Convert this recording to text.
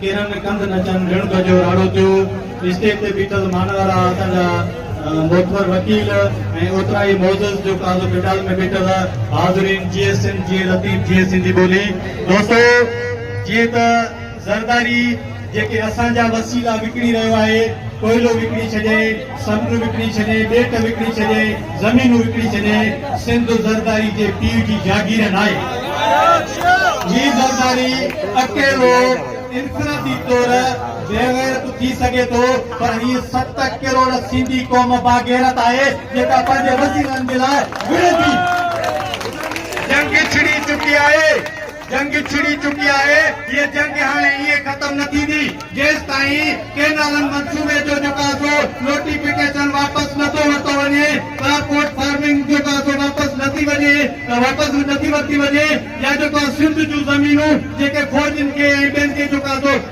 ڪيرن ڪنڌ نچن رڻ ڪجو راڙو ٿيو اسٽيج تي بيٺل مان وارا اسان جا معتبر وڪيل ۽ اوترا ئي معزز جو قاضو ڪنڊال ۾ بيٺل حاضرين جي سنڌ جي لطيف جي سنڌي ٻولي دوستو جي ته زرداري جيڪي اسان جا وسيلا وڪڻي رهيو آهي ڪوئلو وڪڻي ڇڏي سمنڊ وڪڻي ڇڏي، ٻيٽ وڪڻي ڇڏي، زمينون وڪڻي ڇڏي، سنڌ زرداري جي پيء جي جاگير ناهي. هي زرداري اڪيلو انفرادي طور بيغيرت ٿي سگهي ٿو پر هي ست ڪروڙ سنڌي قوم باغيرت آهي جيڪا پنهنجي وسيلن جي لاء وڙهي ٿي. جنگ ڇڙي چڪي آهي. جنگ ڇڙي چڪي آهي، هيء جنگ هاڻي ائين ختم نه ٿيندي، جيستائين ڪينالن منصوبي جو جڪازو، نوٽيفڪيشن، واپس نه ٿو ورتو وڃي، ڪراپ ڪوٽ فارمنگ جو جڪازو واپس نه ٿي وڃي، واپس نه ٿي ورتي وڃي يا جيڪو سنڌ جون زمينون جيڪي فوجين کي ۽ ٻين کي جڪازو